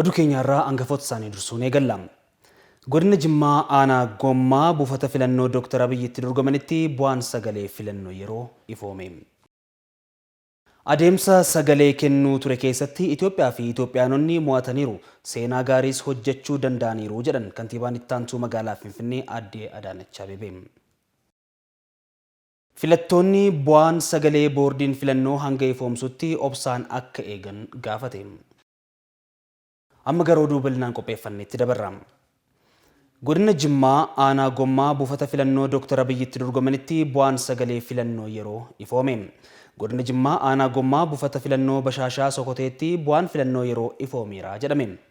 Oduu keenya har'aa angafoota isaanii dursuun eegalla. Godina Jimmaa aanaa Gommaa buufata filannoo Dooktar Abiy itti dorgomanitti bu'aan sagalee filannoo yeroo ifoome. Adeemsa sagalee kennuu ture keessatti Itoophiyaa fi Itoophiyaanonni mo'ataniiru, seenaa gaariis hojjechuu danda'aniiru jedhan Kantiibaan Ittaantuu Magaalaa Finfinnee Aadde Adaanach Abeebee. Filattoonni bu'aan sagalee boordiin filannoo hanga ifoomsutti obsaan akka eegan gaafate. Amma gara oduu bal'inaan qopheeffanneetti dabarra. Godina Jimmaa aanaa Gommaa buufata filannoo Dooktar Abiyyi itti dorgomanitti bu'aan sagalee filannoo yeroo ifoome. Godina Jimmaa aanaa Gommaa buufata filannoo Bashaashaa Sokoteetti bu'aan filannoo yeroo ifoomeera jedhame.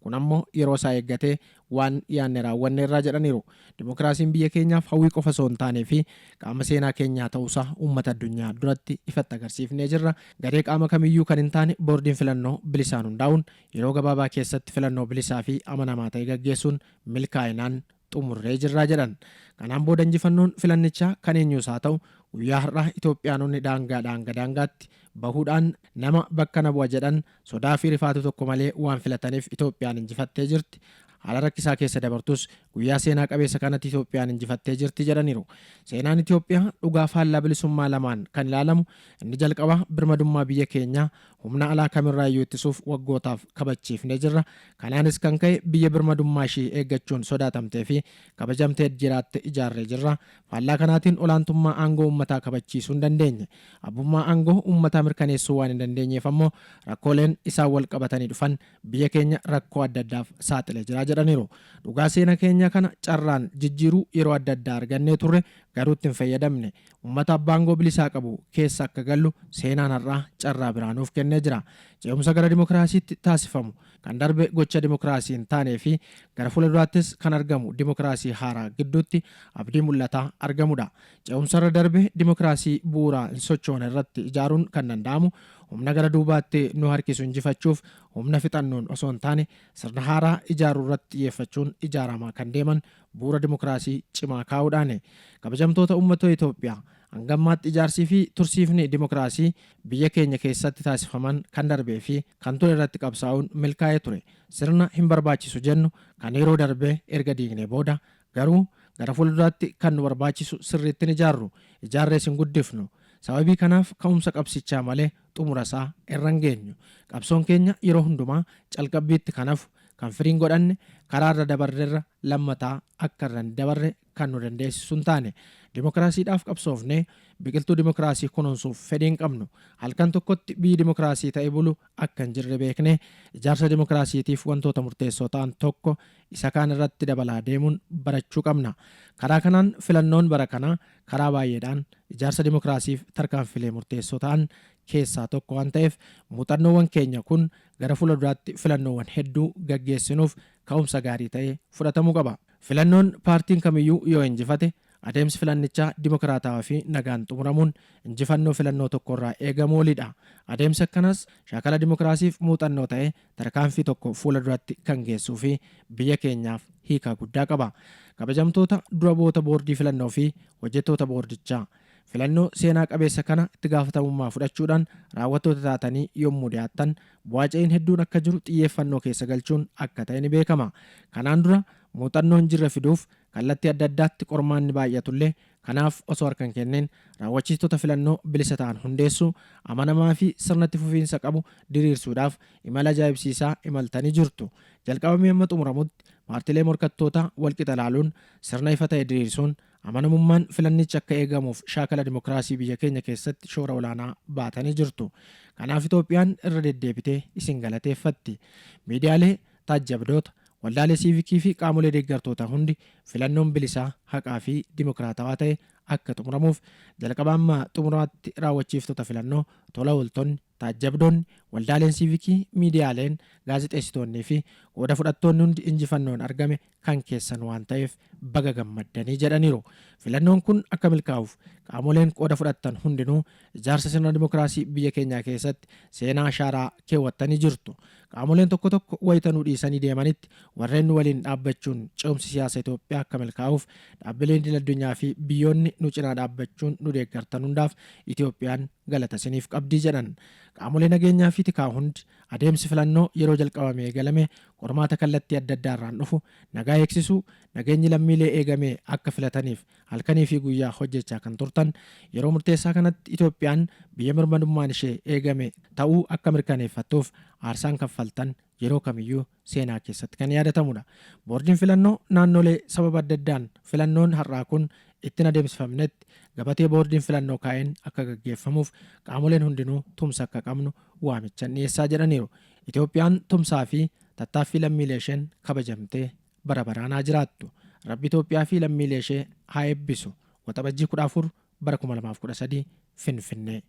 Kun ammoo yeroo isaa eeggatee waan yaanne raawwanneerra jedhaniiru. Dimokiraasiin biyya keenyaaf hawwii qofa osoo hin taanee fi qaama seenaa keenyaa ta'uusaa uummata addunyaa duratti ifatti agarsiifnee jirra. Garee qaama kamiyyuu kan hin taane boordiin filannoo bilisaan hundaa'uun yeroo gabaabaa keessatti filannoo bilisaa fi amanamaa ta'e gaggeessuun milkaa'inaan xumurree jirra jedhan. Kanaan booda injifannoon filannichaa kan eenyuus haa ta'u guyyaa har'aa Itoophiyaanonni daangaadhaa hanga daangaatti bahuudhaan nama bakka na bu'a jedhan sodaa fi rifaatu tokko malee waan filataniif Itoophiyaan injifattee jirti. Haala rakkisaa keessa dabartus guyyaa seenaa qabeessa kanatti Itoophiyaan injifattee jirti jedhaniiru. Seenaan Itoophiyaa dhugaa faallaa bilisummaa lamaan kan ilaalamu inni jalqabaa birmadummaa biyya keenyaa Humna alaa kamirraayyuu ittisuuf waggootaaf kabachiifnee jirra. Kanaanis kan ka'e biyya birmadummaa ishii eeggachuun sodaatamtee fi kabajamteed jiraatte ijaarree jirra. Faallaa kanaatiin olaantummaa aangoo uummataa kabachiisuu hin dandeenye. Abbummaa aangoo uummataa mirkaneessuu waan hin dandeenyeef ammoo rakkooleen isaan walqabatanii dhufan biyya keenya rakkoo adda addaaf saaxilee jira jedhaniiru. Dhugaa seena keenya kana carraan jijjiiruu yeroo adda addaa argannee turre garuu itti hin fayyadamne. Ummata abbaa aangoo bilisaa qabu keessa akka gallu seenaan har'aa carraa biraa nuuf kennee jira. Ce'umsa gara dimokiraasiitti taasifamu, kan darbe gocha dimokiraasii hin taanee fi gara fuula duraattis kan argamu dimokiraasii haaraa gidduutti abdii mul'ataa argamudha. Ce'umsa irra darbe dimokiraasii bu'uuraa hin sochoone irratti ijaaruun kan danda'amu humna gara duubaatti nu harkisu injifachuuf humna fixannoon osoo hin taane sirna haaraa ijaaruu irratti xiyyeeffachuun ijaaramaa kan deeman bu'ura dimokiraasii cimaa kaa'uudhaani. Kabajamtoota Ummatoo Itoophiyaa! Hanga ammaatti ijaarsii fi tursiifni dimokiraasii biyya keenya keessatti taasifaman kan darbee fi kan ture irratti qabsaa'uun milkaa'ee ture. Sirna hin barbaachisu jennu kan yeroo darbe erga diignee booda garuu gara fuulduraatti kan nu barbaachisu sirriitti hin ijaarru. Ijaarrees hin guddifnu. Sababii kanaaf ka'umsa qabsichaa malee xumura isaa irra hin geenyu. Qabsoon keenya yeroo hundumaa calqabbiitti kan hafu, kan firii hin godhanne, karaa irra dabarrerra lammataa akka irra hin dabarre kan nu dandeessisu hin taane. Dimokiraasiidhaaf qabsoofnee biqiltuu dimokiraasii kunuunsuuf fedhii hin qabnu. Halkan tokkotti biyyi dimokiraasii ta'e bulu akka hin jirre beeknee ijaarsa dimokiraasiitiif wantoota murteessoo ta'an tokko isa kaan irratti dabalaa deemuun barachuu qabna. Karaa kanaan filannoon bara kanaa karaa baay'eedhaan ijaarsa dimokiraasiif tarkaanfilee murteessoo ta'an keessaa tokko waan ta'eef muuxannoowwan keenya kun gara fuula duraatti filannoowwan hedduu gaggeessinuuf ka'umsa gaarii ta'ee fudhatamuu qaba. Filannoon paartiin kamiyyuu yoo injifate Adeemsi filannichaa dimokiraatawaa fi nagaan xumuramuun injifannoo filannoo tokko irraa eegamu oli dha. Adeemsi akkanaas shaakala dimokiraasiif muuxannoo ta'ee tarkaanfii tokko fuula duratti kan geessuu fi biyya keenyaaf hiikaa guddaa qaba. Kabajamtoota dura bu'oota boordii filannoo fi hojjettoota boordichaa! Filannoo seenaa qabeessa kana itti gaafatamummaa fudhachuudhaan raawwattoota taatanii yommuu dhiyaattan bu'aa ce'iin hedduun akka jiru xiyyeeffannoo keessa galchuun akka ta'e ni beekama. Kanaan dura muuxannoo hin jirre fiduuf Kallatti adda addaatti qormaanni baay'atullee kanaaf osoo harka hin kenniin raawwachiistota filannoo bilisa ta'an hundeessuu, amanamaa fi sirna itti fufiinsa qabu diriirsuudhaaf imala ajaa'ibsiisaa imaltanii jirtu. Jalqabamee amma xumuramutti paartilee morkattootaa walqixa ilaaluun sirna ifa ta'e diriirsuun amanamummaan filannichi akka eegamuuf shaakala dimokiraasii biyya keenya keessatti shoora olaanaa baatanii jirtu. Kanaaf Itoophiyaan irra deddeebitee isin galateeffatti. Miidiyaalee, taajjabdoota, Waldaalee Siivikii fi qaamolee deeggartootaa hundi filannoon bilisaa, haqaa fi dimokiraatawaa ta'e akka xumuramuuf jalqabaa amma xumuraatti raawwachiiftota filannoo, tola ooltonni, taajjabdoonni, waldaaleen siivikii, miidiyaaleen, gaazexeessitoonnii fi qooda fudhattoonni hundi injifannoon argame kan keessan waan ta'eef baga gammaddanii jedhaniiru. Filannoon kun akka milkaa'uuf qaamoleen qooda fudhattan hundinuu ijaarsa sirna dimokiraasii biyya keenyaa keessatti seenaa ashaaraa keewwattanii jirtu. Qaamoleen tokko tokko wayita nu dhiisanii deemanitti warreen nu waliin dhaabbachuun ce'umsi siyaasa Itoophiyaa akka milkaa'uuf dhaabbileen idil addunyaa fi biyyoonni nu cinaa dhaabbachuun nu deeggartan hundaaf Itoophiyaan galata isiniif qabdii jedhan. Qaamolee nageenyaa fi tikaa hundi adeemsi filannoo yeroo jalqabame eegalame qormaata kallattii adda addaa irraan dhufu Nagaa eegsisuu, Nageenyi lammiilee eegamee akka filataniif halkanii fi guyyaa hojjechaa kan turtan, yeroo murteessaa kanatti Itoophiyaan biyya mirmadummaan ishee eegame ta'uu akka mirkaneeffattuuf aarsaan kaffaltan yeroo kamiyyuu seenaa keessatti kan yaadatamudha. Boordiin Filannoo Naannolee sababa adda addaan filannoon har'aa kun ittin adeemsifamnetti gabatee Boordiin Filannoo kaa'een akka gaggeeffamuuf qaamoleen hundinuu tumsa akka qabnu waamichan dhiyeessaa jedhaniiru. Itoophiyaan tumsaa fi Tattaaffii lammiilee isheen kabajamtee bara baraan haa jiraattu. Rabbi Itoophiyaa fi lammiilee ishee haa eebbisu. Waxabajjii 14 bara 2013 Finfinnee.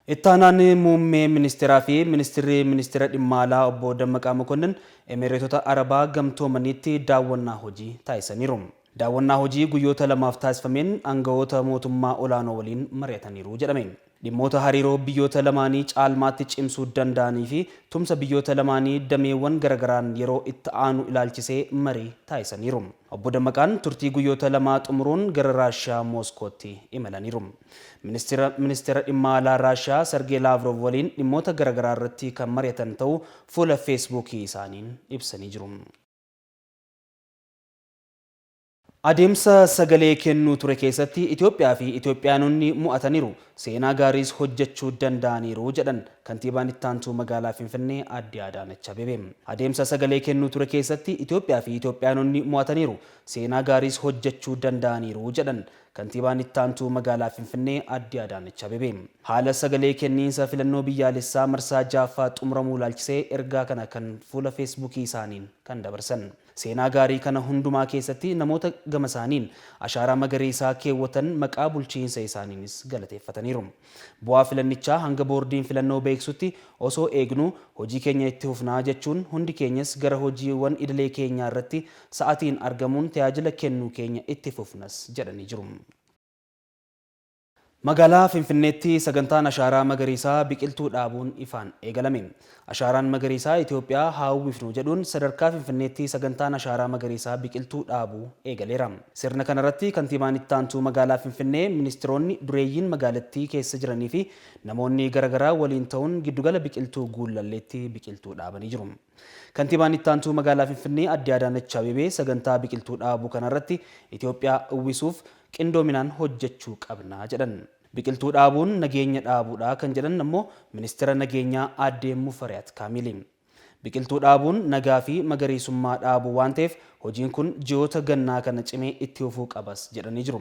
Ittaanaan Muummee Ministeeraa fi Ministirri Ministeera Dhimma Alaa Obbo Dammaqaa Mokonnin Emereetota Arabaa Gamtoomaniitti daawwannaa hojii taasisaniiru. Daawwannaa hojii guyyoota lamaaf taasifameen aanga'oota mootummaa olaanoo waliin mari'ataniiru jedhame. Dhimmoota hariiroo biyyoota lamaanii caalmaatti cimsuu danda'anii fi tumsa biyyoota lamaanii dameewwan garagaraan yeroo itti aanu ilaalchisee marii taasisaniiru. Obbo Dammaqaan turtii guyyoota lamaa xumuruun gara Raashiyaa Mooskootti imalaniiru. Ministira Ministeera Dhimma Alaa Raashiyaa Sargee Laavroov waliin dhimmoota garagaraa irratti kan mari'atan ta'uu fuula Feesbuukii isaaniin ibsanii jiru. Adeemsa sagalee kennuu ture keessatti Itoophiyaa fi Itoophiyaanonni mo'ataniiru, seenaa gaariis hojjechuu danda'aniiru jedhan Kantiibaan Ittaantuu Magaalaa Finfinnee Aadde Adaanach Abeebee. Adeemsa sagalee kennuu ture keessatti Itoophiyaa fi Itoophiyaanonni mo'ataniiru, seenaa gaariis hojjechuu danda'aniiru jedhan Kantiibaan Ittaantuu Magaalaa Finfinnee Aadde Adaanach Abeebee. Haala sagalee kenniinsa filannoo biyyaalessaa marsaa 6ffaa xumuramuu ilaalchisee ergaa kana kan fuula Feesbuukii isaaniin kan dabarsan. Seenaa gaarii kana hundumaa keessatti namoota gamasaaniin ashaaraa magariisaa keewwatan maqaa bulchiinsa isaaniinis galateeffataniiru. Bu'aa filannichaa hanga boordiin filannoo beeksisutti osoo eegnuu hojii keenya itti fufnaa jechuun hundi keenyas gara hojiiwwan idilee keenyaa irratti sa'atiin argamuun tajaajila kennuu keenya itti fufnas jedhanii jiru. Magaalaa Finfinneetti sagantaan Ashaaraa Magariisaa biqiltuu dhaabuun ifaan eegalame. Ashaaraan Magariisaa Itiyoophiyaa haa uwwifnu jedhuun sadarkaa Finfinneetti sagantaan Ashaaraa Magariisaa biqiltuu dhaabuu eegaleera. Sirna kanarratti Kantiibaan Ittaantuu Magaalaa Finfinnee, Ministiroonni, dureeyyiin magaalattii keessa jiraniifi namoonni garagaraa waliin ta'uun Giddugala Biqiltuu Guullalleetti biqiltuu dhaabanii jiru. Kantiibaan Ittaantuu Magaalaa Finfinnee Aadde Adaanach Abeebee sagantaa biqiltuu dhaabuu kanarratti Itoophiyaa uwwisuuf qindoominaan hojjechuu qabna jedhan. Biqiltuu dhaabuun nageenya dhaabuudha kan jedhan ammoo Ministira Nageenyaa Aadde Mufariyaat Kaamiili. Biqiltuu dhaabuun nagaa fi magariisummaa dhaabuu waan ta'eef hojiin kun ji'oota gannaa kana cimee itti fufuu qabas jedhanii jiru.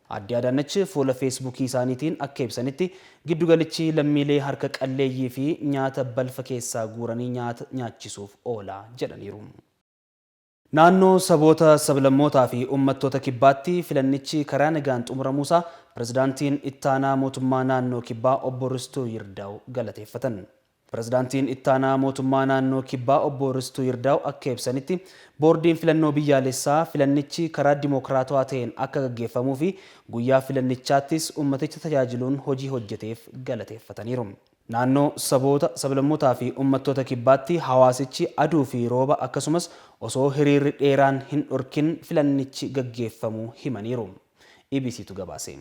Aadde Adaanach fuula Feesbuukii isaaniitiin akka ibsanitti, giddugalichi lammiilee harka qalleeyyii fi nyaata balfa keessaa guuranii nyaata nyaachisuuf oola jedhaniiru. Naannoo Saboota, Sablammootaa fi Ummattoota Kibbaatti filannichi karaa nagaan xumuramuusaa Pirezidaantiin Ittaanaa Mootummaa Naannoo Kibbaa Obbo Ristuu Yirdaaw galateeffatan. Pirezidaantiin Ittaanaa Mootummaa Naannoo Kibbaa Obbo Ristuu Yirdaaw akka ibsanitti, Boordiin Filannoo Biyyaalessaa filannichi karaa dimokiraatawaa ta'een akka gaggeeffamuufi guyyaa filannichaattis ummaticha tajaajiluun hojii hojjeteef galateeffataniiru. Naannoo saboota, sablammootaafi ummattoota Kibbaatti hawaasichi aduufi rooba akkasumas osoo hiriirri dheeraan hin dhorkin filannichi gaggeeffamuu himaniiru. EBCtu gabaase.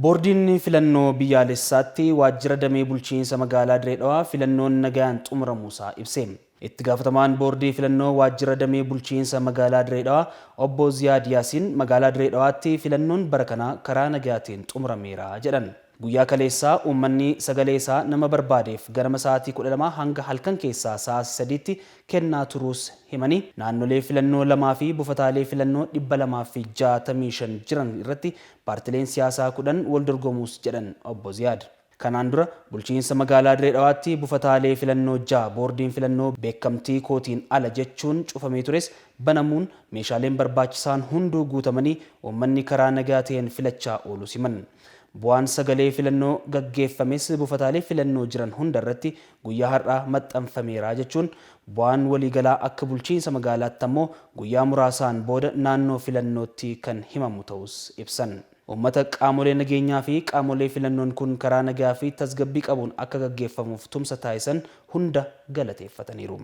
Boordiin Filannoo Biyyaalessaatti Waajjira Damee Bulchiinsa Magaalaa Diree Dhawaa filannoon nagayaan xumuramuusaa ibse. Itti gaafatamaan Boordii Filannoo Waajjira Damee Bulchiinsa Magaalaa Diree Dhawaa Obbo Ziyaad Yaasiin Magaalaa Diree Dhawaatti filannoon bara kanaa karaa nagayaatiin xumurameera jedhan. Guyyaa kaleessaa uummanni sagalee isaa nama barbaadeef ganama sa'aatii 12 hanga halkan keessaa sa'aatii 3tti kennaa turuus himanii, naannolee filannoo 2 fi bufataalee filannoo 265 jiran irratti Paartileen siyaasaa 10 wal dorgomuus jedhan Obbo Ziyaad. Kanaan dura bulchiinsa magaalaa Diree Dhawaatti bufataalee filannoo 6 boordiin filannoo beekamtii kootiin ala jechuun cufamee tures banamuun meeshaaleen barbaachisaan hunduu guutamanii uummanni karaa nagaa ta'een filachaa ooluus himan. Bu'aan sagalee filannoo gaggeeffames bufataalee filannoo jiran hunda irratti guyyaa har'aa maxxanfameera jechuun bu'aan waliigalaa akka bulchiinsa magaalaatti ammoo guyyaa muraasaan booda naannoo filannootti kan himamu ta'uus ibsan. Uummata qaamolee nageenyaa fi qaamolee filannoon kun karaa nagaa fi tasgabbii qabuun akka gaggeeffamuuf tumsa taasisan hunda galateeffataniiru.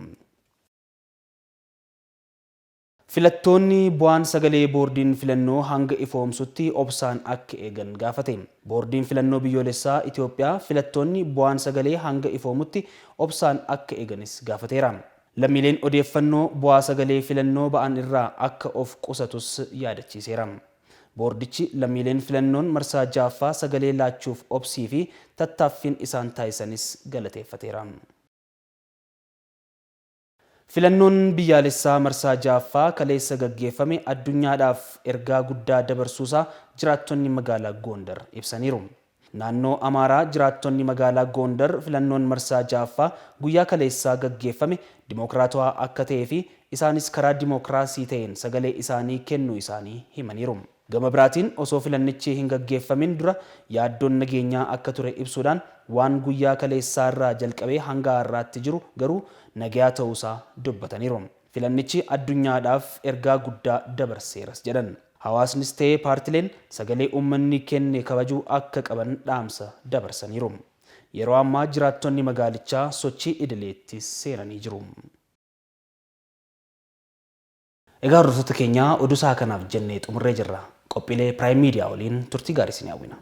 Filattoonni bu'aan sagalee boordiin filannoo hanga ifoomsutti obsaan akka eegan gaafate. Boordiin Filannoo Biyyoolessaa Itoophiyaa filattoonni bu'aan sagalee hanga ifoomutti obsaan akka eeganis gaafateera. Lammiileen odeeffannoo bu'aa sagalee filannoo ba'an irraa akka of qusatus yaadachiiseera. Boordichi lammiileen filannoon marsaa 6ffaa sagalee laachuuf obsii fi tattaaffiin isaan taasisanis galateeffateera. Filannoon biyyaalessaa marsaa 6ffaa kaleessa gaggeeffame addunyaadhaaf ergaa guddaa dabarsuusaa jiraattonni magaalaa Goondar ibsaniiru. Naannoo Amaaraa jiraattonni magaalaa Goondar filannoon marsaa 6ffaa guyyaa kaleessaa gaggeeffame dimookiraatawaa akka ta'eefi isaanis karaa dimookiraasii ta'een sagalee isaanii kennuu isaanii himaniiru. Gama biraatiin osoo filannichi hin gaggeeffamin dura yaaddoon nageenyaa akka ture ibsuudhaan, waan guyyaa kaleessaa irraa jalqabee hanga har'aatti jiru garuu nagaya ta'uusaa dubbataniiru. Filannichi addunyaadhaaf ergaa guddaa dabarseeras jedhan. Hawaasnis ta'e paartileen sagalee uummanni kenne kabajuu akka qaban dhaamsa dabarsaniiru. Yeroo ammaa jiraattonni magaalichaa sochii idileetti seenanii jiru. Egaa hordoftoota keenya oduu sa'a kanaaf jennee xumurree jirra. Qophiilee Prime Media waliin turtii gaarii isin hawwina.